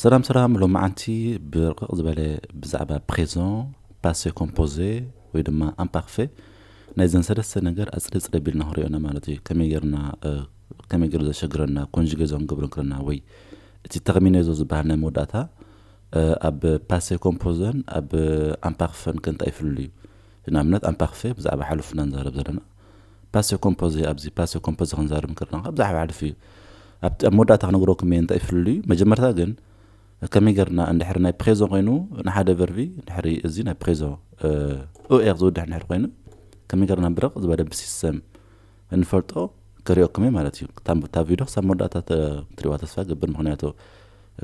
ሰላም ሰላም ሎምዓንቲ ብርቕቕ ዝበለ ብዛዕባ ፕሬዘን ፓሰ ኮምፖዘ ወይ ድማ ኣምፓርፈ ናይዘን ሰለስተ ነገር ኣጽሪ ጽሪ ኣቢልና ክንሪኦ ኢና ማለት እዩ ከመይ ጌርና ከመይ ጌሩ ዘሸግረና ኮንጅጌ ዘንገብሮ እንክለና ወይ እቲ ተርሚኔዞ ዝበሃል ናይ መወዳእታ ኣብ ፓሰ ኮምፖዘን ኣብ ኣምፓርፈን ከ እንታይ እዩ ፍልልዩ ንኣብነት ኣምፓርፈ ብዛዕባ ሓሉፍና ንዛረብ ዘለና ፓሰ ኮምፖዘ እያ ኣብዚ ፓሰ ኮምፖዘ ክንዛረብ እንከለና ካብ ብዛዕባ ሕልፊ እዩ ኣብቲ ኣብ መወዳእታ ክነግረኩም እየ እንታይ ፍልልዩ መጀመርታ ግን ከመይ ገርና እንድሕሪ ናይ ፕሬዞ ኮይኑ ንሓደ ቨርቪ ድሕሪ እዚ ናይ ፕሬዞ ኡኤር ዝውድሕ ድሕሪ ኮይኑ ከመይ ገርና ብርቕ ዝበለ ብሲስተም እንፈልጦ ክሪኦኩም እየ ማለት እዩ እታ ቪድዮ ክሳብ መወዳእታ ትሪእዋ ተስፋ ገብር ምክንያቱ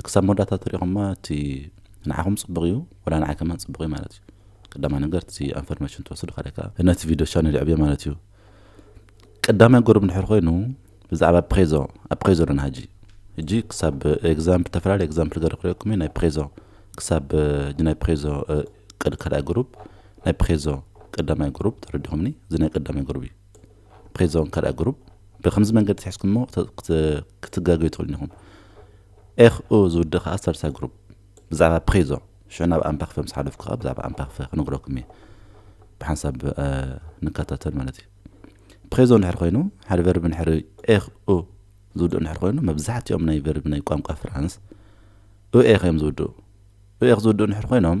ክሳብ መወዳእታ ተሪእኹማ እቲ ንዓኹም ፅቡቕ እዩ ወላ ንዓይ ከማን ፅቡቕ እዩ ማለት እዩ ቀዳማይ ነገር እቲ ኣንፈርሜሽን ትወስዱ ካልኣይ ከዓ ነቲ ቪድዮ ቻነል የዕብዮ ማለት እዩ ቀዳማይ ገሩ እንድሕር ኮይኑ ብዛዕባ ፕሬዞ ኣብ ፕሬዞ ኣለና ሕጂ ሕጂ ክሳብ ኤግዛምፕል ዝተፈላለዩ ኤግዛምፕል ገረ ክሪኦኩም እዩ ናይ ፕሬዞ ክሳብ ሕጂ ናይ ፕሬዞ ቅድ ካልኣይ ግሩፕ ናይ ፕሬዞ ቀዳማይ ግሩፕ ተረዲኹምኒ እዚ ናይ ቀዳማይ ግሩፕ እዩ ፕሬዞ ካልኣይ ግሩፕ ብከምዚ መንገዲ ትሕዝኩሞ ክትጋገዩ ትኽእሉ ኢኹም ኤኽኡ ዝውድእ ከዓ ሳልሳይ ግሩፕ ብዛዕባ ፕሪዞ ሽዑ ናብ ኣምፓክፈ ምስ ሓለፍኩ ከኣ ብዛዕባ ኣምፓክፈ ክነግረኩም እየ ብሓንሳብ ንከታተል ማለት እዩ ፕሬዞ እንድሕር ኮይኑ ሓደ ቨርቢ እንድሕር ኤኽ ኡ ዝውድኡ እንድሕር ኮይኑ መብዛሕትኦም ናይ ቨርቢ ናይ ቋንቋ ፍራንስ ኡኤኽ እዮም ዝውድኡ ኡኤኽ ዝውድኡ እንድሕር ኮይኖም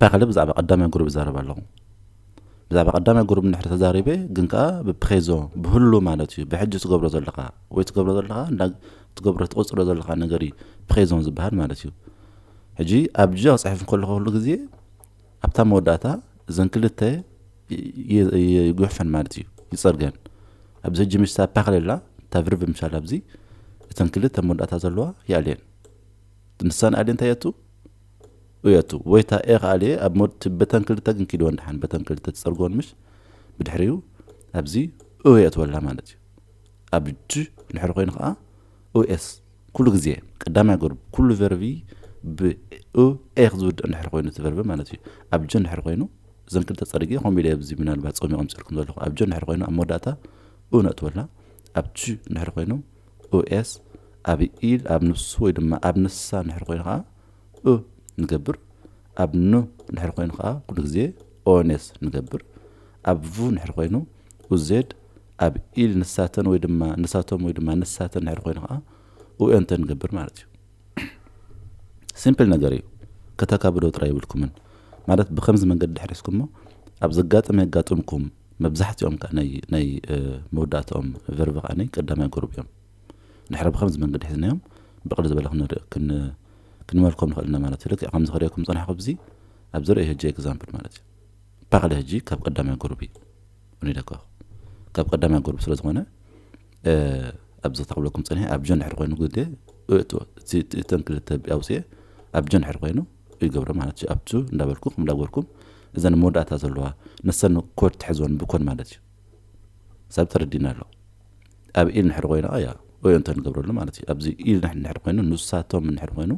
ፐክሊ ብዛዕባ ቀዳማይ ጉሩብ ይዛረብ ኣሎ ብዛዕባ ቀዳማይ ጉሩብ እንድሕር ተዛሪበ ግን ከኣ ብፕሬዞ ብህሉ ማለት እዩ ብሕጂ ትገብሮ ዘለካ ወይ ትገብሮ ዘለካ እንዳ ትገብሮ ትቕጽሎ ዘለካ ነገር እዩ ፕሬዞን ዝበሃል ማለት እዩ ሕጂ ኣብ ጃ ጽሕፍ ከለኹ ኩሉ ግዜ ኣብታ መወዳእታ እዘን ክልተ ይጉሕፈን ማለት እዩ ይጸርገን ኣብዚ ሕጂ ምሽታ ፓክሌላ ታብርብ ምሻል ኣብዚ እተን ክልተ መወዳእታ ዘለዋ ይኣልየን ንሳን ኣልየ እንታይ የቱ ኡየቱ ዎይታ ኤክ ኣልየ ኣብ ሞድቲ በተን ክልተ ግን ኪድወን ደሓን በተን ክልተ ትጸርግወን ምሽ ብድሕሪኡ ኣብዚ ኡየ ኣትወላ ማለት እዩ ኣብ ጅ ድሕሪ ኮይኑ ከኣ ኡኤስ ኩሉ ግዜ ቀዳማይ ገርብ ኩሉ ቨርቪ ብ ኡ ኤክ ዝውድእ እንድሕር ኮይኑ እቲ ቨርቪ ማለት እዩ ኣብ ጅ እንድሕር ኮይኑ እዘን ክልተ ጸርግየ ከምኡ ኢለ ኣብዚ ምናልባት ጾሚ ቀምጽልኩም ዘለኹ ኣብ ጅ እንድሕር ኮይኑ ኣብ መወዳእታ ኡ ነእትወላ ኣብ ጅ እንድሕር ኮይኑ ኡኤስ ኣብ ኢል ኣብ ንሱ ወይ ድማ ኣብ ንሳ እንድሕር ኮይኑ ከኣ እ ንገብር፣ ኣብ ን ድሕሪ ኮይኑ ከኣ ኩሉ ግዜ ኦኔስ ንገብር፣ ኣብ ቭ ድሕሪ ኮይኑ ኡዜድ፣ ኣብ ኢል ንሳተን ወይ ድማ ንሳቶም ወይ ድማ ንሳተን ድሕሪ ኮይኑ ከኣ ኡኤንተ ንገብር ማለት እዩ። ሲምፕል ነገር እዩ ከተካብዶ ጥራይ የብልኩምን ማለት ብከምዚ መንገዲ ድሕሪ ሒዝኩሞ ኣብ ዘጋጥም የጋጥምኩም መብዛሕትኦም ከኣ ናይ ናይ መወዳእትኦም ቨርቭ ከኣ ቀዳማይ ጎርብ እዮም። ንሕረ ብኸምዚ መንገዲ ሒዝናዮም ብቕልል ዝበለ ክንር ክንመልኮም ንኽእል እና ማለት እዩ ልክዕ ከምዚ ክርእየኩም ዝጸናሕኩ ብዚ ኣብ ዝርእ ህጂ ኤግዛምፕል ማለት እዩ ፓክለ ህጂ ካብ ቀዳማይ ጉሩብ እዩ እኒ ደጋኹ ካብ ቀዳማይ ጉሩብ ስለ ዝኾነ ኣብ ዘታ ክብለኩም ጸኒሐ ኣብ ጆን ድሕሪ ኮይኑ ግዜ እእቶ እተን ክልተ ኣውፅኤ ኣብ ጆን ድሕሪ ኮይኑ ይገብሮ ማለት እዩ ኣብቱ እንዳበልኩ ከም እንዳበልኩም እዘን መወዳእታ ዘለዋ ንሰን ኮድ ትሕዝወን ብኮን ማለት እዩ ሳብ ተረዲና ኣሎ ኣብ ኢል ንሕሪ ኮይና ኣያ ወይ እንተ ንገብረሉ ማለት እዩ ኣብዚ ኢል ንሕን ንሕሪ ኮይኑ ንሳቶም ንሕሪ ኮይኑ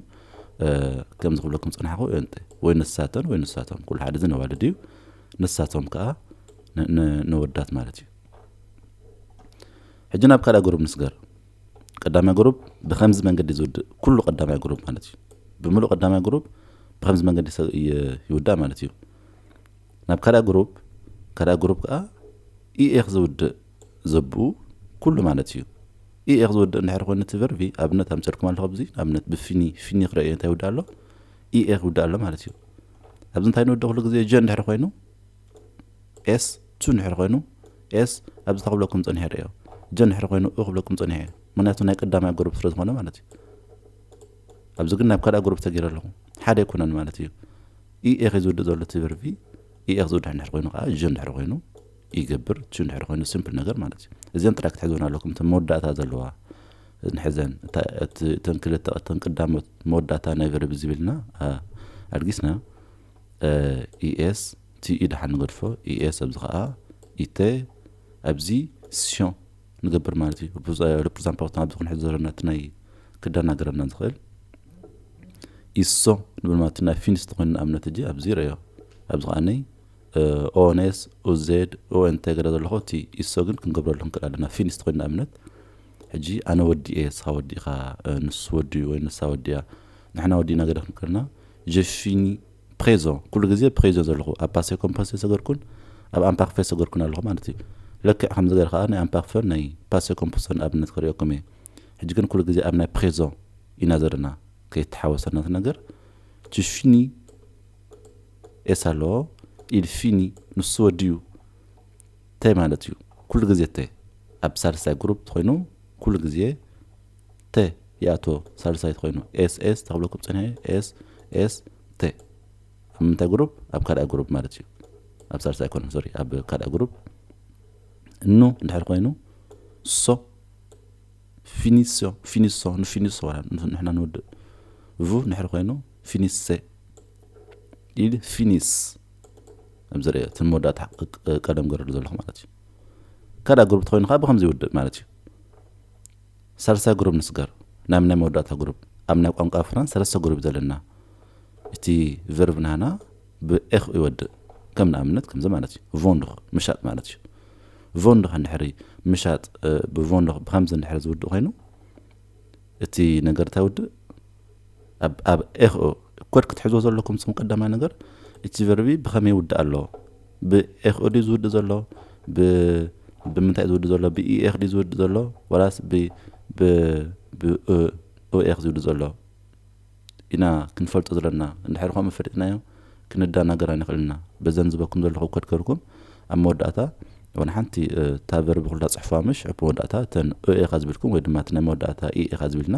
ከምዚ ክብለኩም ጽናሕኹ እንተ ወይ ንሳተን ወይ ንሳቶም ኩሉ ሓደ እዚ ነዋልድ እዩ ንሳቶም ከዓ ነወዳት ማለት እዩ ሕጂ ናብ ካልኣ ግሩብ ንስገር ቀዳማይ ግሩብ ብከምዚ መንገዲ ዝውድእ ኩሉ ቀዳማይ ግሩብ ማለት እዩ ብምሉእ ቀዳማይ ግሩብ ብከምዚ መንገዲ ይውዳእ ማለት እዩ ናብ ካልኣ ግሩፕ ካልኣ ግሩፕ ከኣ EEኽ ዝውድእ ዘብኡ ኩሉ ማለት እዩ። EEኽ ዝውድእ እንድሕር ኮይኑ እቲ ቨርቢ ኣብነት ኣምጺኦልኩም ኣለኹ ኣብዚ ኣብነት ብፊኒ ፊኒ ክረእዮ እንታይ ይውድእ ኣሎ EEኽ ይውድእ ኣሎ ማለት እዩ። ኣብዚ እንታይ ንውድእ ኩሉ ግዜ ጀ እንድሕር ኮይኑ ኤስ ቱ እንድሕር ኮይኑ ኤስ ኣብዚ ተክብለኩም ጸኒሐ ርእዮ ጀ እንድሕር ኮይኑ እ ክብለኩም ጸኒሐ ምክንያቱ ናይ ቀዳማይ ግሩፕ ስለ ዝኾነ ማለት እዩ። ኣብዚ ግን ናብ ካልኣ ግሩፕ ተገይረ ኣለኹ ሓደ ኣይኮነን ማለት እዩ። EEG ዝውድእ ዘሎ እቲ ቨርብ እዩ። EEG ዝውድእ እንድሕር ኮይኑ ከዓ ዥ እንድሕር ኮይኑ ይገብር፣ ቹ እንድሕር ኮይኑ ስምፕል ነገር ማለት እዩ። እዚኣን ጥራይ ክትሕዝወን ኣለኩም እተን መወዳእታ ዘለዋ ንሕዘን። እታ እቲ እተን ክልተ እተን ቀዳሞት መወዳእታ ናይ ቨርብ እዚ ቢልና ኣልጊስና ES TE ደሓን ንገድፎ ES ኣብዚ ከዓ ኢተ ኣብዚ sion ንገብር ማለት እዩ ርፕርዛን ፓውትና ኣብዚ ክንሕዝ ዘለና እቲ ናይ ክደናገረና ዝኽእል ኢሶ ንብል ማለት ናይ ፊንስ ተኮይኑ ንኣብነት እጂ ኣብዚ ረዮ ኣብዚ ከዓነይ ኦንስ ኡዜድ ኦንተ ገለ ዘለኹ እቲ ኢሶ ግን ክንገብረሉ ክንክእል ኣለና ፊንስ ኮይኑ ንኣብነት ሕጂ ኣነ ወዲ እየ ስኻ ወዲ ኢኻ ንሱ ወዲ ወይ ንሳ ወዲ እያ ንሕና ወዲእና ገለ ክንክልና ጀፊኒ ፕሬዞ ኩሉ ግዜ ፕሬዞ ዘለኹ ኣብ ፓሴ ኮምፓስ የሰገርኩን ኣብ ኣምፓክፈ የሰገርኩን ኣለኹ ማለት እዩ ለክዕ ከምዚ ገረ ከኣ ናይ ኣምፓክፈን ናይ ፓሴ ኮምፖሰን ኣብነት ከርእየኩም እየ ሕጂ ግን ኩሉ ግዜ ኣብ ናይ ፕሬዞ ኢና ዘለና ከይተሓወሰና እቲ ነገር ቱ ፊኒ ኤስ ኣሎ ኢል ፊኒ ንሱ ወድዩ ተ ማለት እዩ ኩሉ ግዜ ተ ኣብ ሳልሳይ ግሩፕ ኮይኑ ኩሉ ግዜ ተ ይኣትዎ ሳልሳይቲ ኮይኑ ኤስ ኤስ ተክብለኩም ፀኒሐ ኤስ ኤስ ተ ኣብ ምንታይ ግሩፕ ኣብ ካልኣ ግሩፕ ማለት እዩ ኣብ ሳልሳ ኣይኮነ ሶሪ ኣብ ካልኣ ግሩፕ እኑ እንድሕር ኮይኑ ሶ ፊኒሶ ፊኒሶ ንፊኒሶ ንሕና ንውድእ ቭ ንሕር ኮይኑ ፊኒሰ ኢል ፊኒስ ኣብዚ ርኦ እቲ መወዳእታ ቀደም ገረሉ ዘለኹ ማለት እዩ ካልኣ ግሩፕ ተኮይኑ ከዓ ብከምዚ ይውድእ ማለት እዩ ሳልሳይ ግሩብ ንስገር ናብ ናይ መወዳእታ ግሩብ። ኣብ ናይ ቋንቋ ፍራንስ ሰለስተ ግሩብ እዩ ዘለና። እቲ ቨርብ ናህና ብ ech ይወድእ። ከም ንኣብነት ከምዚ ማለት እዩ፣ Vendre፣ ምሻጥ ማለት እዩ። Vendre እንድሕሪ ምሻጥ ብ vendre ብከምዚ እንድሕሪ ዝውድእ ኮይኑ እቲ ነገር እንታይ ይውድእ? ኣብ ኤክኦ ኮድ ክትሕዝዎ ዘለኩም ጽም ቀዳማይ ነገር እቲ ቨርቢ ብኸመይ ይውዳእ ኣሎ ብኤክኦ ድዩ ዝውድእ ዘሎ ብ ብምንታይ ዝውድእ ዘሎ ብኢኤክ ድዩ ዝውድእ ዘሎ ወላስ ብ ብ ብኦኤክ ዝውድእ ዘሎ ኢና ክንፈልጦ ዘለና እንድሕር ከምኡ ፈሊጥናዮ ክንደናገር ኣይንኽእልና በዘን ዝበኩም ዘለኹ ኮድ ገርኩም ኣብ መወዳእታ ወላ ሓንቲ እታ ቨርቢ ኩላ ጽሑፋ ምሽ ኣብ መወዳእታ እተን ኦኤካ ዝብልኩም ወይ ድማ እቲ ናይ መወዳእታ ኢኤካ ዝብልና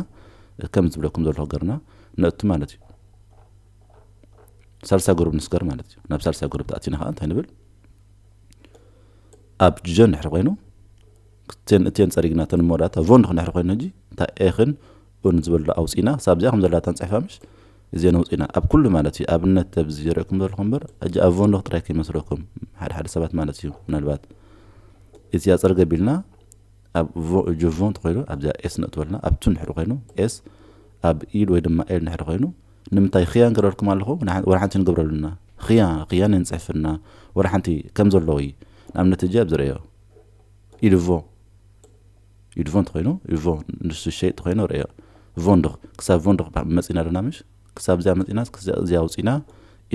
ከም ዝብለኩም ዘሎ ሃገርና ነእቱ ማለት እዩ ሳልሳይ ጉሩብ ንስገር ማለት እዩ ናብ ሳልሳይ ጉሩብ ተኣቲና ከዓ እንታይ ንብል ኣብ ጀን ድሕሪ ኮይኑ ክቴን እቴን ፀሪግና ተን መወዳእታ ቮን ድኹን ድሕሪ ኮይኑ ሕጂ እታ ኤኽን ኡን ዝበሉ ኣውፂና ክሳብ እዚኣ ከም ዘለታ ንፅሕፋ ምሽ እዚአን ኣውፂና ኣብ ኩሉ ማለት እዩ ኣብነት ኣብዚ ይርእኩም ዘለኹም እምበር ሕጂ ኣብ ቮን ዶክ ጥራይ ከይመስለኩም ሓደ ሓደ ሰባት ማለት እዩ ምናልባት እዚኣ ፀርገ ቢልና ኣብ ቮ ጅቮ እንተኾይኑ ኣብዚኣ ኤስ ነእትወልና ኣብቱ ንድሕሪ ኮይኑ ኤስ ኣብ ኢል ወይ ድማ ኤል ንድሕሪ ኮይኑ ንምንታይ ክያን ገረርኩም ኣለኹ ወላ ሓንቲ ንገብረሉና ክያ ክያን ንፅሕፍና ወላ ሓንቲ ከም ዘለዎ እዩ ንኣብነት እጂ ኣብዚ ርእዮ ኢልቮ ኢልቮ እንተኾይኑ ኢልቮ ንሱ ሸይጥ ተኮይኑ ርእዮ ቮንድኽ ክሳብ ቮንድኽ መፂና ኣለና ምሽ ክሳብ እዚኣ መፂና እዚኣ ውፂና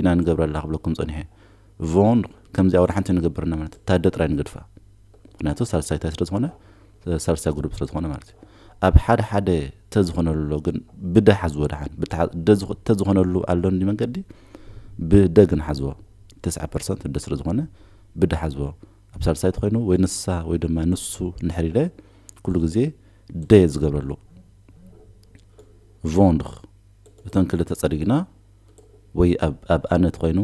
ኢና ንገብረላ ክብለኩም ፀኒሐ ቮን ከምዚ ኣውራ ሓንቲ ንገብር እና ማለት እታ ኣደ ጥራይ ንገድፋ ምክንያቱ ሳልሳይ ታይ ስለዝኾነ ሳልሳይ ጉዱብ ስለዝኾነ ማለት እዩ ኣብ ሓደ ሓደ ተዝኾነሉ ግን ብደ ሓዝዎ ድሓን ተዝኾነሉ ኣሎ እንዲ መንገዲ ብደ ግን ሓዝዎ ተስዓ ፐርሰንት እደ ስለ ዝኾነ ብደ ሓዝዎ ኣብ ሳልሳይ ተኮይኑ ወይ ንሳ ወይ ድማ ንሱ ንሕሪለ ኩሉ ግዜ ደ ዝገብረሉ ቮንድ እተን ክልተ ጸሪግና ወይ ኣብ ኣብ ኣነ ተኾይኑ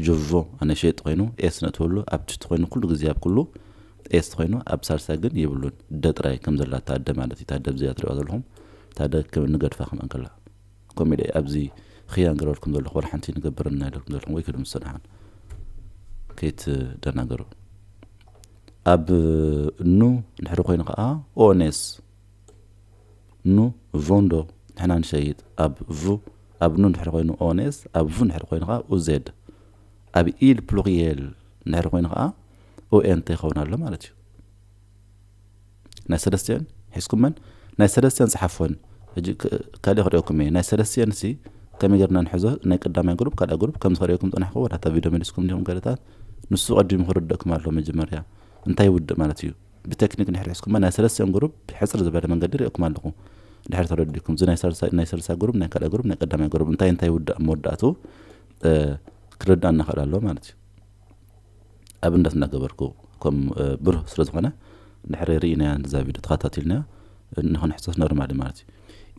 ጆርጆ ኣነ ሸየጥ ተኾይኑ ኤስ ነእትወሉ ኣብ ትሽቲ ኾይኑ ኩሉ ግዜ ኣብ ኩሉ ኤስ ተኾይኑ ኣብ ሳልሳይ ግን የብሉን ደ ጥራይ ከም ዘላ ታደ ማለት እዩ ታደ ኣብዚኣ ትሪእዋ ዘለኹም ታደ ከም ንገድፋ ከም እንከላ ኮሜዲ ኣብዚ ኽያን ገረልኩም ዘለኹ ወላ ሓንቲ ንገብረና ይለኩም ዘለኹም ወይ ክድም ሰናሓን ከይትደናገሩ ኣብ ኑ ድሕሪ ኮይኑ ከዓ ኦኔስ ን ቮን ዶ ንሕና ንሸይጥ ኣብ ቭ ኣብ ን እንድሕር ኮይኑ ኦንኤስ ኣብ ቭ እንድሕር ኮይኑ ከኣ ኡዜድ ኣብ ኢል ፕሉሪየል እንድሕር ኮይኑ ከኣ ኦኤንት ይኸውን ኣሎ ማለት እዩ ናይ ሰለስቲኤን ሒዝኩመን ናይ ሰለስቲኤን ጽሓፎን ሕጂ ካልእ ክርእየኩም እየ ናይ ሰለስቲኤን ሲ ከመይ ጌርና ንሕዞ ናይ ቀዳማይ ግሩፕ ካልኣ ግሩፕ ከም ዝኸርእየኩም ጸናሕኩ ወላታ ቪድዮ መሊስኩም ዲኹም ገለታት ንሱ ቀዲሙ ክርደእኩም ኣሎ መጀመርያ እንታይ ውድእ ማለት እዩ ብተክኒክ ድሕሪ ሕዝኩማ ናይ ሰለስቲኦም ግሩብ ሕጽር ዝበለ መንገዲ ሪኦኩም ኣለኹ ድሕሪ ተረዲኩም እዚ ናይ ሰልሳይ ግሩብ ናይ ካልኣይ ግሩብ ናይ ቀዳማይ ግሩብ እንታይ እንታይ ይውዳእ መወዳእቱ ክርዳእና ክእል ኣለዎ ማለት እዩ ኣብነት እናገበርኩ ከም ብሩህ ስለ ዝኾነ ድሕሪ ርኢናያ እዛ ቪድዮ ተኸታቲልና ንክንሕሰስ ኖርማሊ ማለት እዩ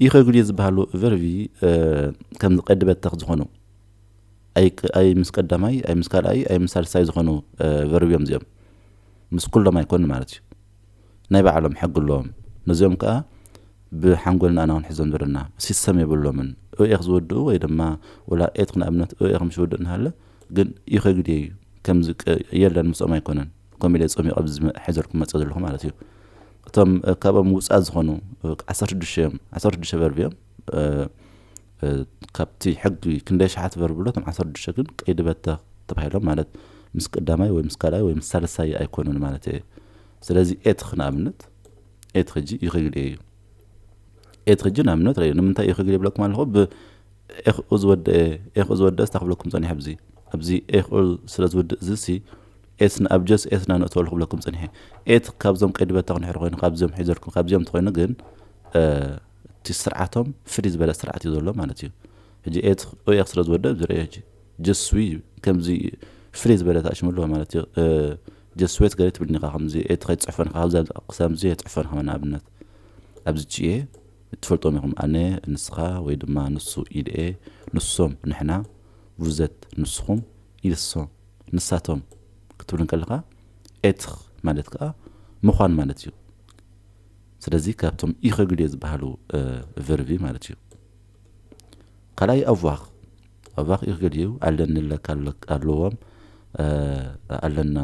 ኢኸጉልየ ዝበሃሉ ቨርቪ ከም ዝቀድበተክ ዝኾኑ ኣይ ኣይ ምስ ቀዳማይ ኣይ ምስ ካልኣይ ኣይ ምስ ሳልሳይ ዝኾኑ ቨርብ እዮም እዚኦም። ምስ ኩሎም ኣይኮን ማለት እዩ። ናይ ባዕሎም ሕጊ ኣለዎም። ነዚኦም ከኣ ብሓንጎልና ኢና ክንሕዞም ዘለና። ሲሰም የብሎምን። ኡኤክ ዝውድኡ ወይ ድማ ወላ ኤትክ ንኣብነት ኡኤክ ምስ ይውድእ እንሃለ ግን ኢኸ ግዴ እዩ። ከምዚ ቅ የለን ምስኦም ኣይኮነን። ከምኡ ኢለ ጸሚቐ ኣብዚ ዝመ ሒዘልኩም መጸ ዘለኹ ማለት እዩ። እቶም ካብኦም ውጽኣት ዝኾኑ ዓሰርተ ሽዱሽተ እዮም። ዓሰርተ ሽዱሽተ ቨርብ እዮም። ካብቲ ሕጊ ክንደይ ኣሽሓት በርብሎ እቶም ዓሰርተ ሽዱሽተ ግን ቀይዲ በተኽ ተባሂሎም ማለት ምስ ቀዳማይ ወይ ምስ ካልኣይ ወይ ምስ ሳልሳይ ኣይኮኑን ማለት እየ ስለዚ ኤትኽ ንኣብነት ኤትኽ ሕጂ ይኽግል እዩ ኤትኽ ሕጂ ንኣብነት ረዩ ንምንታይ ይኽግል ይብለኩም ኣለኹ ብኤኽኡ ዝወደአ ኤኽኡ ዝወደአ ስታ ክብለኩም ፀኒሐ ኣብዚ ኣብዚ ኤኽኡ ስለ ዝውድእ እዚ ሲ ኤት ንኣብጀስ ኤት ናነእተወሉ ክብለኩም ፀኒሐ ኤት ካብዞም ቀይዲ በተኽ ንሕሪ ኮይኑ ካብዚኦም ሒዘልኩም ካብዚኦም ተኮይኑ ግን እቲ ስርዓቶም ፍልይ ዝበለ ስርዓት እዩ ዘሎ ማለት እዩ ሕጂ ኦኤክ ስለ ዝወደብ ዝረዮ ሕጂ ጀስዊ ከምዚ ፍልይ ዝበለት ኣሽሙ ኣለዎ ማለት እዩ ጀስዌት ገለ ትብልኒ ኢኻ ከምዚ ኤት ከይትፅሕፈን ኢኻ ኣብዛ ክሳምዚ የፅሕፈን ኢኻ ንኣብነት ኣብዚ ችኤ ትፈልጦም ኢኹም ኣነ ንስኻ ወይ ድማ ንሱ ኢድኤ ንሶም ንሕና ቡዘት ንስኹም ኢልሶም ንሳቶም ክትብል ከለኻ ኤትኽ ማለት ከዓ ምዃን ማለት እዩ ስለዚ ካብቶም ኢኸግልዮ ዝበሃሉ ቨርቢ ማለት እዩ። ካልኣይ ኣቫኽ ኣቫኽ ኢኸግልዩ ኣለኒ ኣለካ ኣለዎም ኣለና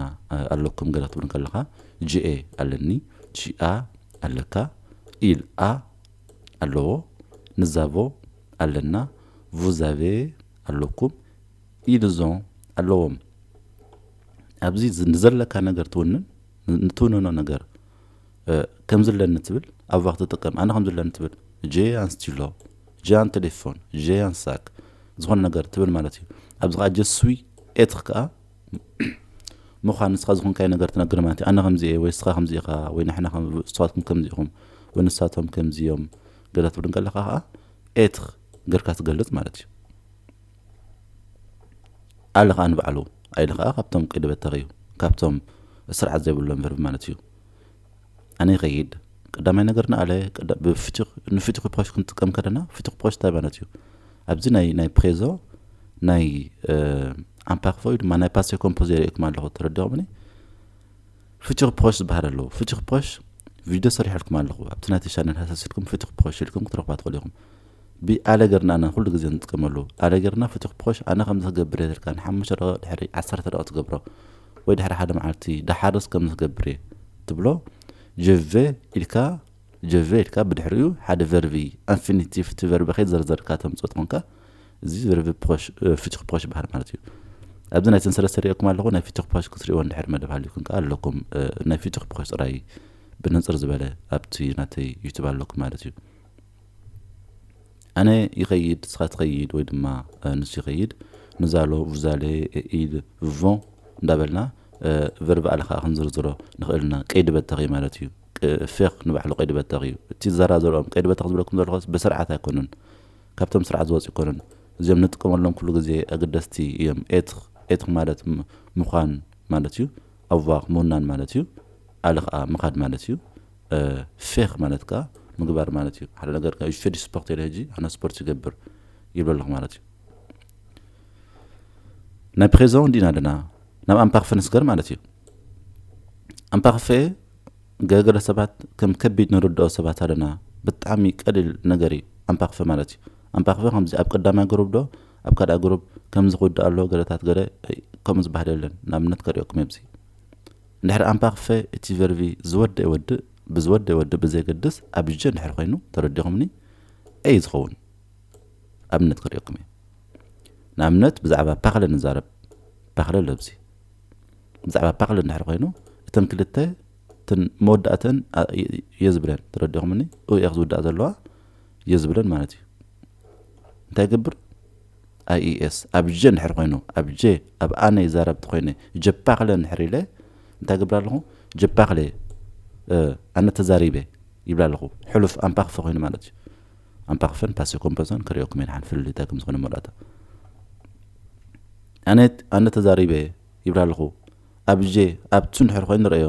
ኣለኩም ገለ ክትብል ከለኻ ጂኤ ኣለኒ ጂኣ ኣለካ ኢልኣ ኣለዎ ንዛቮ ኣለና ቮዛቬ ኣለኩም ኢልዞ ኣለዎም ኣብዚ ንዘለካ ነገር ትውንን ንትውንኖ ነገር ከምዚ ኣለኒ ትብል ኣባኽ ትጥቀም ኣነ ከምዚ ኣለኒ ትብል ጀ ኣንስቲሎ ጀ ኣን ቴሌፎን ጀ ኣን ሳክ ዝኾነ ነገር ትብል ማለት እዩ ኣብዚ ከዓ ጀስዊ ኤትኽ ከዓ ምዃን ንስኻ ዝኾንካይ ነገር ትነግር ማለት እዩ ኣነ ከምዚ እየ ወይ ንስኻ ከምዚ ኢኻ ወይ ንሕና እስትዋትኩም ከምዚ ኢኹም ወይ ንሳቶም ከምዚ እዮም ገለ ትብል ከለካ ከዓ ኤትኽ ገርካ ትገልፅ ማለት እዩ ኣሊ ከኣ ንባዕሉ ኣይሊ ከኣ ካብቶም ቀይዲ በተኽ እዩ ካብቶም ስርዓት ዘይብሎም ቨርቢ ማለት እዩ ኣነ ይኸይድ ቀዳማይ ነገር ንኣለ ንፍትሑ ፕሮሽ ክንጥቀም ከለና ፍትሑ ፕሮሽ እንታይ ማለት እዩ ኣብዚ ናይ ናይ ፕሬዞ ናይ ኣምፓክፎ ወይ ድማ ናይ ፓሴ ኮምፖዝ የርእየኩም ኣለኹ ተረዲኹምኒ ፍትሑ ፕሮሽ ዝበሃል ኣለዎ ፍትሑ ፕሮሽ ቪድዮ ሰሪሐልኩም ኣለኹ ኣብቲ ናይቲ ቻነል ሃሰሲልኩም ፍትሑ ፕሮሽ ኢልኩም ክትረኽባ ትኽእሉ ኢኹም ብ ኣለ ገርና እና ኩሉ ግዜ ንጥቀመሉ ኣለ ገርና ፍቱሕ ፖሽ ኣነ ከምዚ ክገብር እየ ትልካ ን ሓሙሽተ ደቂቅ ድሕሪ ዓሰርተ ደቂቅ ትገብሮ ወይ ድሕሪ ሓደ መዓልቲ ደሓርስ ከምዚ ክገብር እየ ትብሎ je vais ኢልካ je vais ኢልካ ብድሕሪኡ ሓደ ቨርቢ ኣንፊኒቲቭ እቲ ቨርቢ ከይዘርዘርካ ተምጽኦ ትኾንካ እዚ ቨርቢ ፖሽ ፍቱሕ ፖሽ ይበሃል ማለት እዩ ኣብዚ ናይ ሰንሰለት ሰሪኦኩም ኣለኹ ናይ ፍቱሕ ፖሽ ክትሪእዎ እንድሕር መደብ ሃልዩኩም ከዓ ኣለኩም ናይ ፍቱሕ ፖሽ ጥራይ ብንፅር ዝበለ ኣብቲ ናተይ ዩቱብ ኣለኩም ማለት እዩ ኣነ ይኸይድ ንስኻ ትኸይድ ወይ ድማ ንሱ ይኸይድ nous allons vous allez ils vont እንዳበልና ቨርብ ኣለ ከዓ ክንዝርዝሮ ንኽእል ኢና ቀይዲ በተኺ ማለት እዩ ፌክ ንባዕሉ ቀይዲ በተኺ እዩ እቲ ዘራ ዘርኦም ቀይዲ በተኺ ዝብለኩም ዘለኹስ ብስርዓት ኣይኮኑን ካብቶም ስርዓት ዝወፅ ይኮኑን እዚኦም ንጥቀመሎም ኩሉ ግዜ ኣገደስቲ እዮም ኤትኽ ኤትኽ ማለት ምዃን ማለት እዩ ኣዋኽ ምውናን ማለት እዩ ኣለ ከዓ ምኻድ ማለት እዩ ፌክ ማለት ከኣ ምግባር ማለት እዩ ሓደ ነገር ከኣ ዩሸዲ ስፖርት ኢለ ሕጂ ኣነ ስፖርት ይገብር ይብሎ ኣለኹ ማለት እዩ ናይ ፕሬዞ እንዲ ኢና ኣለና ናብ ኣምፓክፈ ንስገር ማለት እዩ ኣምፓክፈ ገለገለ ሰባት ከም ከቢድ ንርድኦ ሰባት ኣለና ብጣዕሚ ቀሊል ነገር እዩ ኣምፓክፈ ማለት እዩ ኣምፓክፈ ከምዚ ኣብ ቀዳማይ ግሩብ ዶ ኣብ ካልኣ ግሩብ ከምዚ ክውዳእ ኣለዎ ገለታት ገለ ከምኡ ዝበሃል የለን ንኣብነት ከሪኦኩም እየ እንድሕር ኣምፓክፈ እቲ ቨርቪ ዝወደእ ይወድእ ብዝወደእ ይወድእ ብዘየገድስ ኣብ ዠ እንድሕር ኮይኑ ተረዲኹምኒ ዔይ ዝኸውን ኣብነት ከርእየኩም እየ ንኣብነት ብዛዕባ ፓክለ ንዛረብ ፓክለ ለብዚ ብዛዕባ ፓክለ እንድሕር ኮይኑ እተን ክልተ እተን መወዳእተን እየ ዝብለን ተረዲኹምኒ ኡኤክ ዝውዳእ ዘለዋ እየ ዝብለን ማለት እዩ እንታይ ይገብር IES ኣብጀ እንድሕር ኮይኑ ኣብጀ ኣብ ኣነ ይዛረብ ተኮይነ ጀፓክለ እንድሕር ኢለ እንታይ ገብር ኣለኹ ጀፓክለ ኣነ ተዛሪበ ይብላ ኣለኹ ሕሉፍ ኣምፓክፈ ኮይኑ ማለት እዩ ኣምፓክፈን ፓሴ ኮምፖዘን ክሪኦኩም እየ ንሓን ፍልል እንታይ ከም ዝኾነ መላእታ ኣነ ኣነ ተዛሪበ ይብላ ኣለኹ ኣብጀ ኣብቱ እንድሕር ኮይኑ ንረእዮ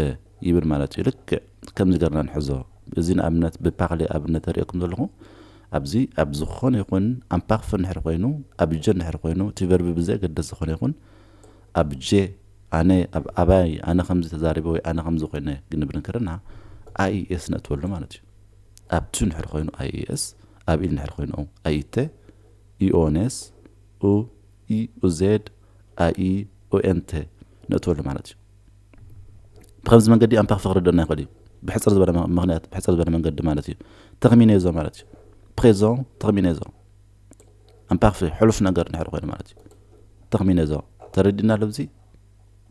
እ ይብል ማለት እዩ ልክዕ ከምዚ ገርና ንሕዞ እዚ ንኣብነት ብፓክሌ ኣብነት ዘርእየኩም ዘለኩ ኣብዚ ኣብ ዝኮነ ይኩን ኣምፓክፍ እንድሕር ኮይኑ ኣብ ጀ እንድሕር ኮይኑ እቲ ቨርቢ ብዘየገደስ ዝኮነ ይኩን ኣብ ጀ ኣነ ኣብ ኣባይ ኣነ ከምዚ ተዛሪበ ወይ ኣነ ከምዚ ኮይነ ግንብል እንከለና ኣይኤስ ነእትወሉ ማለት እዩ ኣብ ቱ እንድሕር ኮይኑ ኣይኤስ ኣብ ኢል እንድሕር ኮይኑ ኣይተ ኢኦኔስ ኡ ኢ ኡዜድ ኣኢ ኡኤንተ ነእትወሉ ማለት እዩ ብኸምዚ መንገዲ ኣንታ ክፈክረደና ይኸእል እዩ ብሕጽር ዝበለ ምክንያት ብሕጽር ዝበለ መንገዲ ማለት እዩ ተክሚኔዞ ማለት እዩ ፕሬዞ ተክሚኔዞ ኣንፓክፊ ሕሉፍ ነገር ድሕሪ ኮይኑ ማለት እዩ ተክሚኔዞ ተረዲና ለብዚ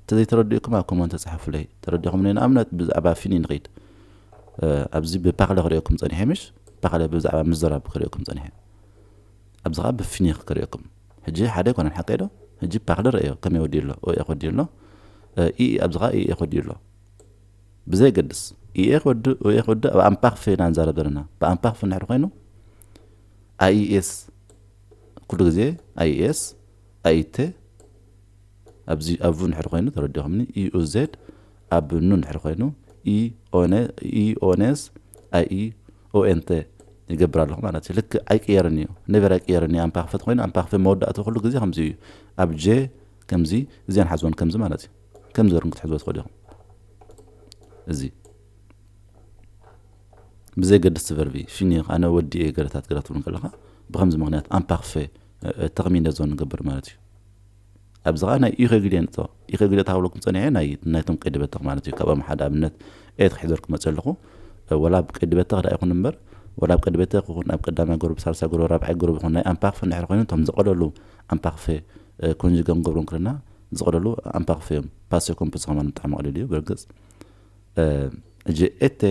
ተዘይተረዲኡኩም ኣብ ኮመንት ተፅሓፉለይ ተረዲኹም ንኣብነት ብዛዕባ ፊኒ ንኸይድ ኣብዚ ብፓክለ ክሪኦኩም ፀኒሐ ምሽ ፓክለ ብዛዕባ ምዘራብ ክሪኦኩም ፀኒሐ ኣብዚ ከዓ ብፊኒ ክሪኦኩም ሕጂ ሓደ ኣይኮነን ሓቀይ ዶ ሕጂ ፓክለ ረእዮ ከመይ ወዲኡ ኣሎ ኦኤ ክወዲኡ ኣሎ ኢኢ ኣብዚ ከኣ ኢኤ ክወዲኡ ኣሎ ብዘየገድስ ኢኤ ክወድእ ኦኤ ክወድእ ኣብ ኣምፓክፍ ኢና ንዛረብ ዘለና ብኣምፓክፍ እንድሕር ኮይኑ ኣይኤስ ኩሉ ግዜ ኣይኤስ ኣይቴ ኣብዚ ኣብቡ እንድሕር ኮይኑ ተረዲኹምኒ ኢኡዜድ ኣብ ኑ እንድሕር ኮይኑ ኢኦኔስ ኣይ ኦኤንተ ይገብር ኣለኹ ማለት እዩ ልክዕ ኣይቅየርን እዩ ነበር ኣይቅየርን እዩ ኣምፓ ክፈት ኮይኑ ኣምፓ ክፈት መወዳእቱ ኩሉ ግዜ ከምዚ እዩ ኣብ ጀ ከምዚ እዚኣን ሓዝወን ከምዚ ማለት እዩ ከምዚ ርም ክትሕዝዎ ትኽእሉ ኢኹም እዚ ብዘይገድስ ትቨርቢ ሽኒኽ ኣነ ወዲ እየ ገረታት ገራ ትብሉ ከለኻ ብከምዚ ምክንያት ኣምፓክፈ ተኽሚነ ዞን ንገብር ማለት እዩ ኣብዝኻ ናይ ኢኸግድ እየ ንቶ ኢኸግድ ታብለኩም ጸኒሐ ናይ ናይቶም ቀይዲ በተኽ ማለት እዩ ካብኦም ሓደ ኣብነት ኤት ክሕዘር ክመጽ ኣለኹ ወላ ኣብ ቀይዲ በተኽ ዳኣ ይኹን እምበር ወላ ኣብ ቀይዲ በተኽ ይኹን ኣብ ቀዳማይ ጎረብ ሳልሳይ ጎረብ ራብዓይ ጎረብ ይኹን ናይ ኣምፓክፈ እንድሕር ኮይኑ እቶም ዝቐለሉ ኣምፓክፈ ኮንጅገ ንገብሮም ክለና ዝቐለሉ ኣምፓክፈ እዮም ፓሴ ኮምፕስ ከማን ብጣዕሚ ቀሊል እዩ ብርግጽ እጂ ኤቴ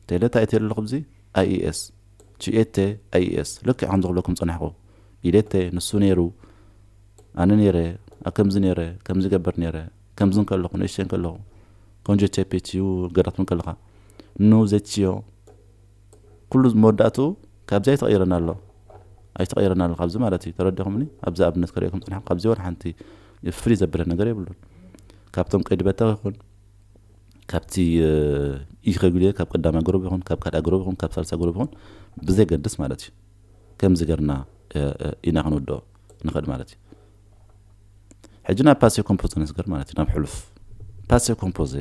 ቴለታ ኤቴ ኣለኹ ብዚ ኣይኤስ ቺኤተ ኣይኤስ ልክዕ ከምዚ ክብለኩም ዝጸናሕኩ ኢዴተ ንሱ ኔሩ ኣነ ኔረ ኣብ ከምዚ ኔረ ከምዚ ይገብር ኔረ ከምዚ እንከለኹ ንእሽተይ እንከለኹ ቆንጆ ቼፔ ቺዩ ገለ ክትብል ከለኻ ን ዘቺዮ ኩሉ መወዳእትኡ ካብዚ ኣይተቐይረን ኣሎ ኣይተቐይረን ኣሎ ካብዚ ማለት እዩ ተረዲኹምኒ ኣብዚ ኣብነት ከርእየኩም ጽናሕኩ ካብዚ ወላ ሓንቲ ፍልይ ዘብለ ነገር የብሉን ካብቶም ቀይዲ በታዊ ይኹን ካብቲ ኢረጉሌር ካብ ቀዳማይ ጉሩብ ይኹን ካብ ካልኣይ ጉሩብ ይኹን ካብ ሳልሳይ ጉሩብ ይኹን ብዘይገድስ ማለት እዩ ከምዚ ገርና ኢና ክንውድኦ ንኽእል ማለት እዩ ሕጂ ናብ ፓሴ ኮምፖዘ ነስገር ማለት እዩ ናብ ሕሉፍ ፓሴ ኮምፖዘ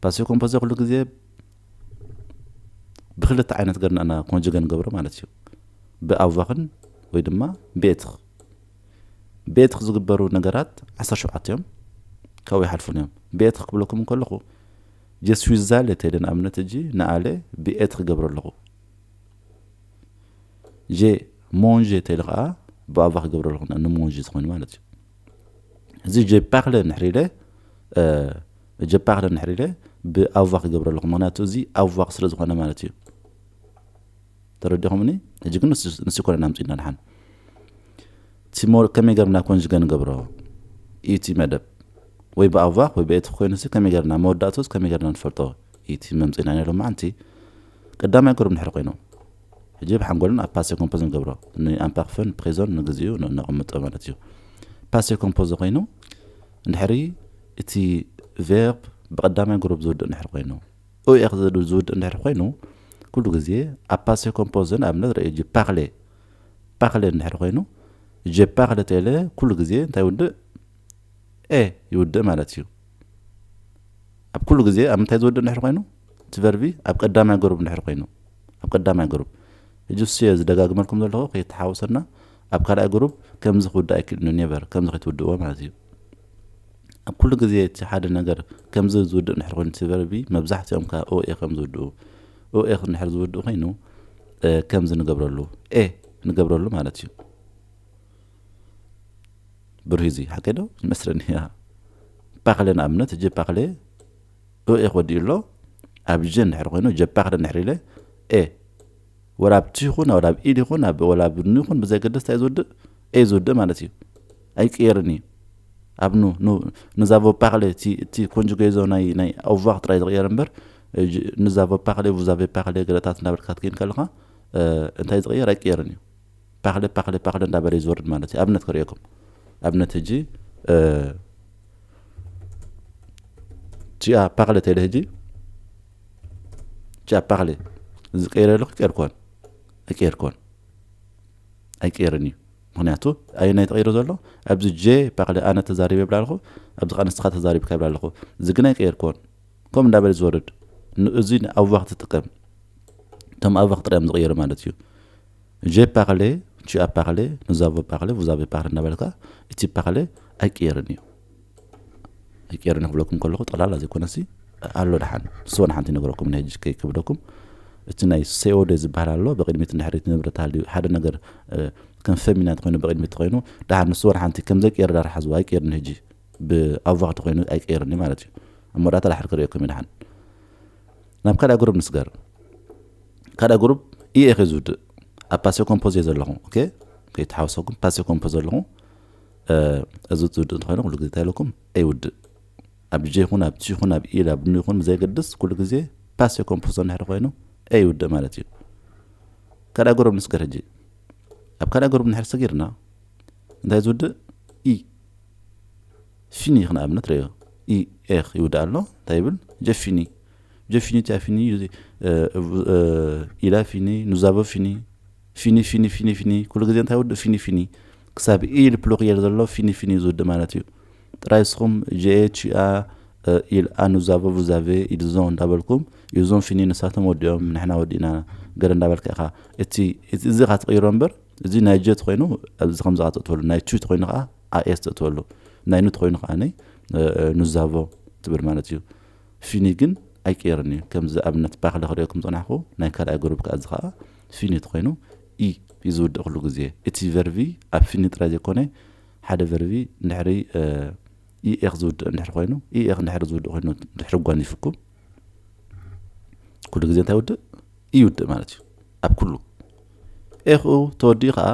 ፓሴ ኮምፖዘ ኩሉ ግዜ ብክልተ ዓይነት ገርና ኢና ኮንጅገ ንገብሮ ማለት እዩ ብኣቫኽን ወይ ድማ ብኤትኽ ቤትኽ ዝግበሩ ነገራት ዓሰርተ ሸውዓተ እዮም፣ ካብኡ ኣይሓልፉን እዮም። ቤትኽ ክብለኩም እንከለኹ ጀስዊ ዛለ ተይለ ንኣብነት እጂ ንኣለ ብኤት ክገብሮ ኣለኹ። ጀ ሞንዠ ተይለ ከኣ ብኣቫ ክገብሮ ኣለኹ ንሞንዠ ዝኾይኑ ማለት እዩ። እዚ ጀ ፓክለ ንሕሪለ ጀ ፓክለ ንሕሪለ ብኣቫ ክገብሮ ኣለኹ ምክንያቱ እዚ ኣቫ ስለ ዝኾነ ማለት እዩ። ተረዲኹምኒ ሕጂ ግን ንሱ ኣይኮነን ኣምጺእና ድሓን ቲሞር ከመይ ገርና ኮንጅገ ንገብሮ እዩ እቲ መደብ ወይ ብኣቫክ ወይ ብኤት ኮይኑሲ ከመይ ገርና መወዳእቶስ ከመይ ገርና ንፈልጦ እዩ እቲ መምፂና ናይ ሎማዓንቲ ቀዳማይ ገሮም ድሕሪ ኮይኖም ሕጂ ብሓንጎልን ኣብ ፓሴ ኮምፖዝ ንገብሮ ንኣምፓክፈን ፕሬዞን ንግዚኡ ነቐምጦ ማለት እዩ ፓሴ ኮምፖዝ ኮይኑ እንድሕሪ እቲ ቬርብ ብቀዳማይ ግሩብ ዝውድእ ንሕሪ ኮይኑ ኡኤክ ዝብል ዝውድእ እንድሕር ኮይኑ ኩሉ ግዜ ኣብ ፓሴ ኮምፖዘ ንኣብነት ርእዩ ጅ ፓክሌ ፓክሌ እንድሕር ኮይኑ ጀ ፓክሌ ቴለ ኩሉ ግዜ እንታይ ይውድእ ኤ ይውድእ ማለት እዩ ኣብ ኩሉ ግዜ ኣብ ምንታይ ዝወድእ እንድሕር ኮይኑ እቲ ቨርቢ ኣብ ቀዳማይ ገሩብ እንድሕር ኮይኑ ኣብ ቀዳማይ ገሩብ እጅ ሱየ ዝደጋግመልኩም ዘለኹ ከይተሓወሰና ኣብ ካልኣይ ግሩፕ ከምዚ ክውዳእ ኣይክእልን እዩ ኔቨር ከምዚ ከይትውድእዎ ማለት እዩ ኣብ ኩሉ ግዜ እቲ ሓደ ነገር ከምዚ ዝውድእ እንድሕር ኮይኑ እቲ ቨርቢ መብዛሕትኦም ካብ ኦኤ ከም ዝውድኡ ኦኤ እንድሕር ዝውድእ ኮይኑ ከምዚ ንገብረሉ ኤ ንገብረሉ ማለት እዩ ብሩህ እዚ ሓቀይ ዶ ይመስለኒ እያ ፓክለ ንኣብነት እጀ ፓክለ ኦኤ ክወዲኡ ኣሎ ኣብ ጀ እንድሕር ኮይኑ ጀፓክለ እንድሕር ኢለ ኤ ወላ ኣብ ት ይኹን ወላ ኣብ ኢድ ይኹን ወላ ኣብ ን ይኹን ብዘየገድስ እንታይ እዩ ዝውድእ ኤ ዝውድእ ማለት እዩ ኣይቅየርን እዩ ኣብ ኑ ንዛቮፓክሌ እቲ ኮንጁጌዞ ናይ ናይ ኣውቫክ ጥራይ ዝቕየር እምበር ንዛቮፓክሌ ቡዛቬፓክሌ ገለታት እናበልካ ክትከይድ ከለኻ እንታይ ዝቕየር ኣይቅየርን እዩ ፓክለ ፓክለ ፓክለ እንዳበለ እዩ ዝወርድ ማለት እዩ ኣብነት ክርእየኩም ኣብነት ህጂ ቺኣ ፓክለ ተለ ህጂ ቺኣ ፓክለ እዚ ቀይረ ኣለኩ ቀይርኮን ኣይቀይርኮን ኣይቀይርን እዩ ምክንያቱ ኣየናይ ተቀይሩ ዘሎ ኣብዚ ጀ ፓክለ ኣነ ተዛሪበ ይብላ ኣለኹ ኣብዚ ከዓ ንስኻ ተዛሪብካ ይብላ ኣለኹ እዚ ግን ኣይቀይርኮን ከምኡ እንዳበለ ዝወርድ እዚ ንኣቡባ ክትጥቀም እቶም ኣቡባ ክጥርዮም ዝቀየሩ ማለት እዩ ጀይ ፓርሌ፣ ቱ ኣቭ ፓርሌ፣ ኑዝ ኣቮ ፓርሌ፣ ቭዝ ኣቬ ፓርሌ እናበልካ እቲ ፓርሌ ኣይቅየርን እዩ። ኣይቅየርን እዩ ክብለኩም ከለኹ ጠቕላላ ዘይኮነሲ ኣሎ ደሓን ስወን ሓንቲ ይነግረኩም ናይ ሕጂ ከይከብደኩም እቲ ናይ ሴኦዴ ዝበሃል ኣሎ ብቕድሚት ንድሕሪት ንብረት ሃልዩ ሓደ ነገር ከም ፈሚናት ኮይኑ ብቕድሚት ኮይኑ ደሓን ንስወን ሓንቲ ከም ዘይቅየር ዳር ሓዝዋ ኣይቅየርን ሕጂ ብኣቮ ክቲ ኮይኑ ኣይቅየርን እዩ ማለት እዩ እሞ ዳታ ዳሕር ክርእየኩም እዩ ደሓን ናብ ካልኣ ግሩብ ንስገር ካልኣ ግሩብ ኢኤ ከ ዝውድእ ኣብ ፓሴ ኮምፖዝ እየ ዘለኹ ከይተሓወሰኩም ፓሴ ኮምፖዝ ዘለኹ እዚ ዝውድእ እንተኮይኑ ኩሉ ግዜ እንታይ ኣለኩም ኣይውድእ ኣብ ጀ ይኹን ኣብ ቲ ይኹን ኣብ ኢ ኣብ ኑ ይኹን ብዘይገድስ ኩሉ ግዜ ፓሴ ኮምፖዝ እንድሕር ኮይኑ ኣይውድእ ማለት እዩ ካልኣ ግሩብ ንስገር ሕጂ ኣብ ካልኣ ግሩብ እንድሕር ሰጊርና እንታይ ዝውድእ ኢ ፊኒ ክንኣብነት ረዮ ኢ ኤኽ ይውዳእ ኣሎ እንታይ ይብል ጀፊኒ ጀፊኒ ቲያፊኒ ኢላ ፊኒ ኑዛቦ ፊኒ ፊኒ ፊኒ ፊኒ ፊኒ ኩሉ ግዜ እንታይ ውድእ ፊኒ ፊኒ ክሳብ ኢ ኢል ፕሉክየል ዘሎ ፊኒ ፊኒ ዝውድእ ማለት እዩ ጥራይ ስኹም ጂኤ ቺኣ ኢል ኣኑዛቦ ቡዛቬ ኢልዞ እንዳበልኩም እዞም ፊኒ ንሳቶም ወዲኦም ንሕና ወዲእና ገለ እንዳበልካ ኢኻ እቲ እዚ ኻ ትቕይሮ እምበር እዚ ናይ ጀት ኮይኑ ኣብዚ ከምዚ ካ ትእትወሉ ናይ ቹት ኮይኑ ከዓ ኣኤስ ተእትወሉ ናይ ኑት ኮይኑ ከኣ ኑዛቮ ትብል ማለት እዩ ፊኒ ግን ኣይቅየርን እዩ ከምዚ ኣብነት ባክለ ክርእየኩም ዝጸናሕኩ ናይ ካልኣይ ግሩብ ከኣ እዚ ከኣ ፊኒት ኮይኑ ኢ እዩ ዝውድእ ክሉ ግዜ እቲ ቨርቪ ኣብ ፊኒ ጥራይ ዘይኮነ ሓደ ቨርቪ ድሕሪ ኢኤክ ዝውድእ ድሕሪ ኮይኑ ኢኤክ ድሕሪ ዝውድእ ኮይኑ ድሕሪ ጓኒፍኩም ኩሉ ግዜ እንታይ ውድእ ይውድእ ማለት እዩ ኣብ ኩሉ ኤኽኡ ተወዲኡ ከዓ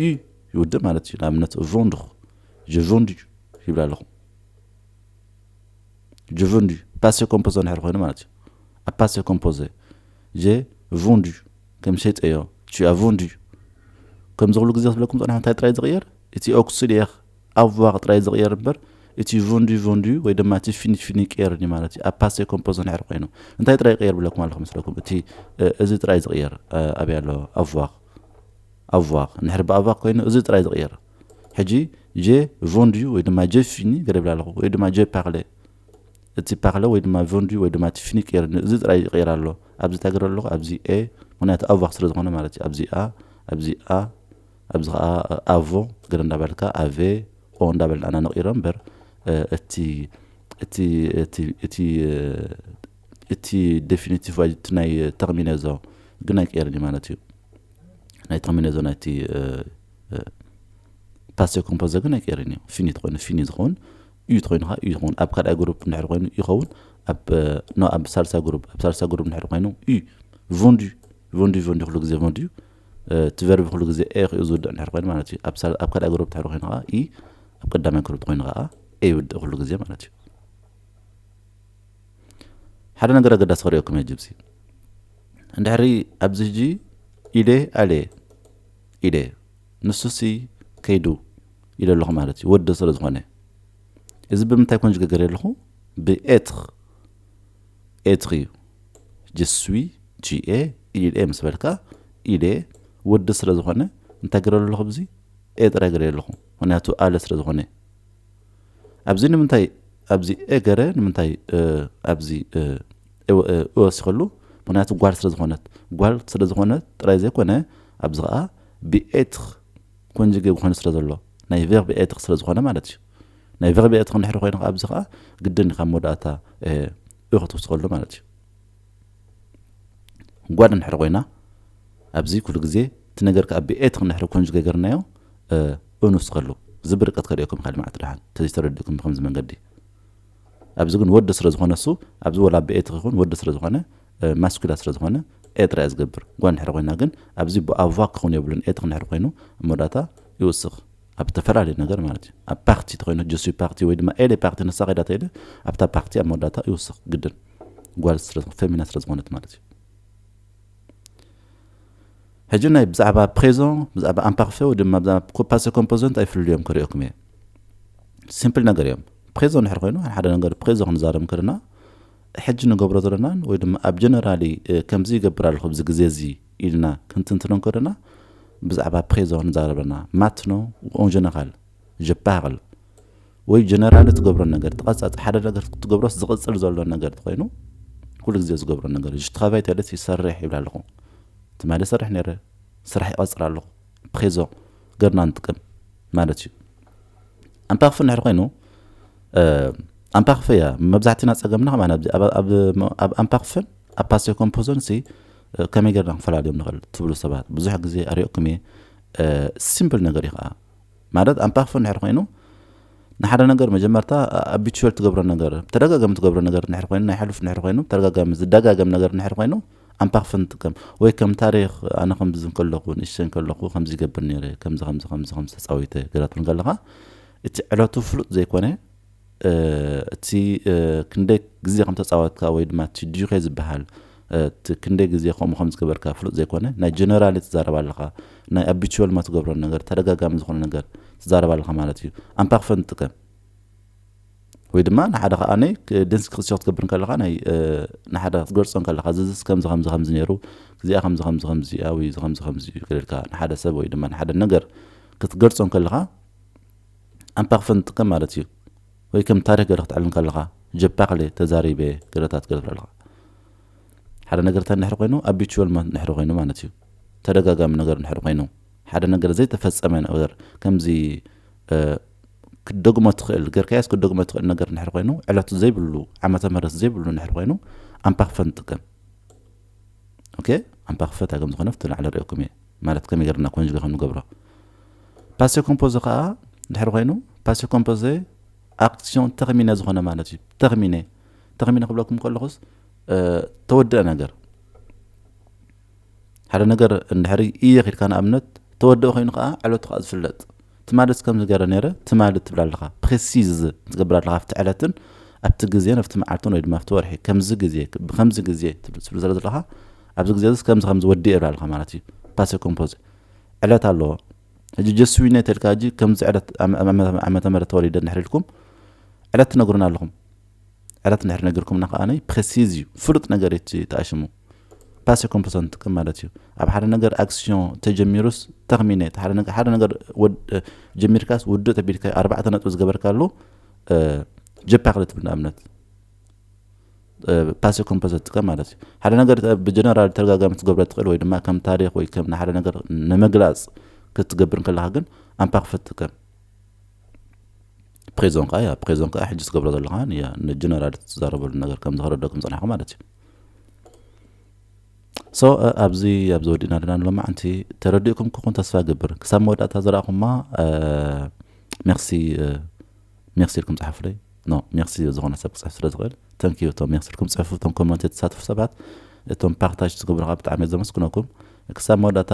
እዩ ይውድእ ማለት እዩ ንኣብነት ቮንድኹ ጀቮንድ እዩ ይብል ኣለኹ ጀቮንድ እዩ ፓሴ ኮምፖዘ ንሕር ኮይኑ ማለት እዩ ኣብ ፓሴ ኮምፖዘ ጀ ቮንድ እዩ ከም ሸጠዮ ቹ ኣቮንድ እዩ ከምዚ ክብሉ ግዜ ክብለኩም ፀንሐ እንታይ ጥራይ ዝቕየር እቲ ኦክሲድየኽ ኣዋኽ ጥራይ ዝቕየር እምበር እቲ ቮንድ ቮንድ እዩ ወይ ድማ እቲ ፊኒት ፊኒ ይቀየር እዩ ማለት እዩ ኣብ ፓሴ ኮምፖዘ ንሕር ኮይኑ እንታይ ጥራይ ይቕየር ብለኩም ኣለኹ መስለኩም እቲ እዚ ጥራይ ዝቕየር ኣበይ ኣሎ ኣዋኽ ኣቭዋር እንድሕር ብኣቫር ኮይኑ እዚ ጥራይ ዝቕየር ሕጂ ጀ ቮንድዩ ወይ ድማ ጀ ፊኒ ገደብላ ኣለኹ ወይ ድማ ጀ ፓርለ እቲ ፓርለ ወይ ድማ ቮንድዩ ወይ ድማ እቲ ፊኒ ቅየር እዚ ጥራይ ይቕየር ኣሎ ኣብዚ ታገረ ኣለኹ ኣብዚ ኤ ምክንያቱ ኣቫር ስለ ዝኾነ ማለት እዩ ኣብዚ ኣ ኣብዚ ኣ ኣብዚ ከዓ ኣቮ ገለ እንዳበልካ ኣቬ ኦ እንዳበልና ኢና ንቕይሮ እምበር እቲ እቲ እቲ እቲ እቲ ደፊኒቲቭ ባጀት እቲ ናይ ተቕሚነዞ ግን ኣይቅየርን እዩ ማለት እዩ ናይ ተቕሚነዞ ናይቲ ፓሴ ኮምፖዘ ግን ኣይቅየርን እዩ ፊኒ ተኮይኑ ፊኒ ዝኸውን እዩ ተኮይኑ ከዓ እዩ ዝኸውን ኣብ ካልኣይ ግሩፕ እንድሕር ኮይኑ ይኸውን ኣብ ሳልሳ ግሩፕ ኣብ ሳልሳ ግሩፕ እንድሕር ኮይኑ እዩ ቮንዲ ቮንዲ ቮንዲ ኩሉ ግዜ ቮንዲ እዩ እቲ ቨርቢ ኩሉ ግዜ ኤ ክኡ ዝውድእ እንድሕር ኮይኑ ማለት እዩ ኣብ ካልኣይ ግሩፕ እንድሕር ኮይኑ ከዓ ኢ ኣብ ቀዳማይ ግሩፕ ኮይኑ ከዓ ኤ ይውድእ ኩሉ ግዜ ማለት እዩ ሓደ ነገር ኣገዳሲ ክርእየኩም እየ ጅብሲ እንድሕሪ ኣብዚ ሕጂ ኢደ ኣልየ ኢደ ንሱሲ ከይዱ ኢለ ኣለኹ ማለት እዩ ወዲ ስለ ዝኾነ እዚ ብምንታይ ኮን ዝገገር ኣለኹ ብኤትር ኤትር እዩ ጅስዊ ጂኤ ኢልኤ ምስ በልካ ኢሌ ወዲ ስለ ዝኾነ እንታይ ገረ ኣለኹ ብዚ ኤጥረ ገረ ኣለኹ ምክንያቱ ኣለ ስለ ዝኾነ ኣብዚ ንምንታይ ኣብዚ እእ ገረ ንምንታይ እእ ኣብዚ እእ እወ እእ እወሲኸሉ ምኽንያቱ ጓል ስለ ዝኾነት ጓል ስለ ዝኾነት ጥራይ ዘይኮነ ኣብዚ ኸኣ ብኤትር ኮንጅጌ ኮይኑ ስለ ዘሎ ናይ ቨርብ ኤትር ስለ ዝኾነ ማለት እዩ ናይ ቨርብ ኤትር እንድሕሪ ኮይኑ ኸኣ ኣብዚ ኸኣ ግድን ካብ መወዳእታ እእ እእ ክትውስኸሉ ማለት እዩ ጓል እንድሕር ኮይና ኣብዚ ኩሉ ግዜ እቲ ነገር ከኣ ብኤት እንድሕር ኮንጁ ገገርናዮ እ ኡኑስ ከሉ ዝቢ ርቀት ከድኦ ከም ካል መዓት ድሓን ተዘይ ተረድእኩም ብከምዚ መንገዲ ኣብዚ ግን ወዲ ስለ ዝኾነ እሱ ኣብዚ ወላ ብኤት ክኹን ወዲ ስለ ዝኾነ ማስኩላ ስለ ዝኾነ ኤ ጥራይ ዝገብር ጓል እንድሕር ኮይና ግን ኣብዚ ብኣቫ ክኹን የብሉን ኤት እንድሕር ኮይኑ መወዳእታ ይውስኽ ኣብ እተፈላለየ ነገር ማለት እዩ ኣብ ፓርቲ እንተኮይኑ ጀስዩ ፓርቲ ወይ ድማ ኤሌ ፓርቲ ንሳ ከይዳ ተይለ ኣብታ ፓርቲ ኣብ መወዳእታ ይውስኽ ግድን ጓል ስለ ፈሚና ስለ ዝኾነት ማለት እዩ ሕጂ ናይ ብዛዕባ ፕሬዞን ብዛዕባ ኣምፓክፌ ወይ ድማ ብዛዕባ ኮፓሴ ኮምፖዘንት ኣይፍልልዮም ክርእየኩም እየ ሲምፕል ነገር እዮም ፕሬዞ ንድሕር ኮይኑ ሓደ ነገር ፕሬዞ ክንዛረብ ከለና ሕጂ ንገብሮ ዘለናን ወይ ድማ ኣብ ጀነራሊ ከምዚ ይገብር ኣለኹ ብዚ ግዜ እዚ ኢልና ክንትንትኖ እንከሎና ብዛዕባ ፕሬዞ ንዛረብ ኣለና። ማትኖ ኡን ጀነራል ጀፓርል ወይ ጀነራል እትገብሮ ነገር ተቐጻጽ ሓደ ነገር ክትገብሮስ ዝቕጽል ዘሎ ነገር ኮይኑ ኩሉ ግዜ ዝገብሮ ነገር እዩ ሽትኻባይ ተለት ይሰርሕ ይብል ኣለኹ ትማሊ ይሰርሕ ነረ ስራሕ ይቐጽር ኣለኹ ፕሬዞ ገርና ንጥቀም ማለት እዩ ኣንፓክፍ ንድሕር ኮይኑ ኣንፓክፍ እያ መብዛሕትና ጸገምና ከማን ኣብዚ ኣብ ኣንፓክፍን ኣብ ፓሴ ኮምፖዞን ሲ ከመይ ገርና ክንፈላልዮም ንኽእል ትብሉ ሰባት ብዙሕ ግዜ ኣሪኦኩም እየ ሲምፕል ነገር እዩ ከኣ ማለት ኣምፓክፎ እንድሕር ኮይኑ ንሓደ ነገር መጀመርታ ኣቢቹል ትገብሮ ነገር ተደጋጋሚ ትገብሮ ነገር እንድሕር ኮይኑ ናይ ሕሉፍ እንድሕር ኮይኑ ተደጋጋሚ ዝደጋገም ነገር እንድሕር ኮይኑ ኣምፓክፎ ንጥቀም ወይ ከም ታሪክ ኣነ ከምዚ ከለኹ ንእሽተይ ከለኹ ከምዚ ይገብር ነይረ ከምዚ ከምዚ ከምዚ ከምዚ ተፃዊተ ገራትብን ከለካ እቲ ዕለቱ ፍሉጥ ዘይኮነ እቲ ክንደይ ግዜ ከም ተጻወትካ ወይ ድማ እቲ ዲዩኬ ዝበሃል እቲ ክንደይ ግዜ ከምኡ ከም ዝገበርካ ፍሉጥ ዘይኮነ ናይ ጀነራሊ ትዛረብ ኣለኻ ናይ ኣቢቹዋል ድማ ትገብሮ ነገር ተደጋጋሚ ዝኾነ ነገር ትዛረብ ኣለኻ ማለት እዩ ኣምፓክፈን ትጥቀም ወይ ድማ ንሓደ ከዓ ናይ ደንስ ክትሸኽ ትገብር ከለኻ ናይ ንሓደ ክትገልጾ ከለኻ ዝዝስ ከምዚ ከምዚ ከምዚ ነይሩ እዚኣ ከምዚ ከምዚ ከምዚ እያ ወይ እዚ ከምዚ ከምዚ እዩ ገለልካ ንሓደ ሰብ ወይ ድማ ንሓደ ነገር ክትገልጾ ከለኻ ኣንፓክፈን ትጥቀም ማለት እዩ ወይ ከም ታሪክ ገረ ክትዕልል ከለካ ጀፓክሌ ተዛሪቤ ገረታት ገረ ትብለልካ ሓደ ነገር እንታይ ንድሕሪ ኮይኑ ኣቢቹዋል ንድሕሪ ኮይኑ ማለት እዩ ተደጋጋሚ ነገር ንድሕሪ ኮይኑ ሓደ ነገር ዘይተፈጸመ ነገር ከምዚ ክትደግሞ ትኽእል ገርካያስ ክትደግሞ ትኽእል ነገር ንድሕሪ ኮይኑ ዕለቱ ዘይብሉ ዓመተ ምህረት ዘይብሉ ንድሕሪ ኮይኑ ኣንፓክፈን ትጥቀም ኦኬ ኣምፓ ክፍለ ታይ ከምዝኾነ ኣብቲ ላዕሊ ሪኦኩም እየ ማለት ከመይ ገርና ኮንጅገ ከም ንገብሮ ፓሴ ኮምፖዘ ከዓ ድሕሪ ኮይኑ ፓሴ ኮምፖዘ ኣክሲዮን ተኽሚነ ዝኾነ ማለት እዩ ተኽሚነ ተኽሚነ ክብለኩም ከለኹስ ተወድአ ነገር ሓደ ነገር እንድሕሪ እየ ኪድካ ንኣብነት ተወድአ ኮይኑ ከዓ ዕለቱ ከዓ ዝፍለጥ ትማልስ ከምዚ ገረ ነይረ ትማሊ ትብል ኣለኻ ፕሪሲዝ ትገብር ኣለኻ ኣብቲ ዕለትን ኣብቲ ግዜን ኣብቲ መዓልትን ወይ ድማ ኣብቲ ወርሒ ከምዚ ግዜ ብከምዚ ግዜ ትብል ትብል ስለ ዘለኻ ኣብዚ ግዜ እዚ ከምዚ ከምዚ ወዲኤ ይብል ኣለኻ ማለት እዩ ፓሰ ኮምፖዘ ዕለት ኣለዎ ሕጂ ጀስዊነ ተልካ ሕጂ ከምዚ ዕለት ዓመተ ምህረት ተወሊደ እንድሕር ኢልኩም ዕለት ትነግሩና ኣለኹም ዕረት እንድሕር ነጊርኩምና ከኣ ፕረሲዝ እዩ ፍሉጥ ነገር እዩ እቲ ተኣሽሙ ፓሰ ኮምፐሶ ንጥቀም ማለት እዩ ኣብ ሓደ ነገር ኣክስዮን ተጀሚሩስ ተኽሚነ ሓደ ነገር ጀሚርካስ ውዱእ ተቢልካ ኣርባዕተ ነጥቢ ዝገበርካሉ ጀፓ ክለ ትብል ንኣብነት ፓሰ ኮምፐሶ ትጥቀም ማለት እዩ ሓደ ነገር ብጀነራል ተደጋጋሚ ትገብረ ትኽእል ወይ ድማ ከም ታሪክ ወይ ከም ንሓደ ነገር ንምግላፅ ክትገብር ከለካ ግን ኣምፓ ክፈት ትጥቀም ፕሬዞን ከኣ ያ ፕሬዞን ከኣ ሕጂ ትገብሮ ዘለኻ ንጀነራል ትዛረበሉ ነገር ከም ዝኸረደኩም ጸናሕኩ ማለት እዩ ሶ ኣብዚ ኣብዚ ወዲእና ኣለና ሎማዓንቲ ተረዲእኩም ክኹን ተስፋ ገብር ክሳብ መወዳእታ ዝረእኹማ ሜርሲ ሜርሲ ኢልኩም ጸሓፉለይ ኖ ሜርሲ ዝኾነ ሰብ ክፅሕፍ ስለ ዝኽእል ተንክዩ እቶም ሜርሲ ኢልኩም ፅሕፉ እቶም ኮመንት የተሳትፉ ሰባት እቶም ፓርታጅ ዝገብሩ ከዓ ብጣዕሚ ዘመስግነኩም ክሳብ መወዳእታ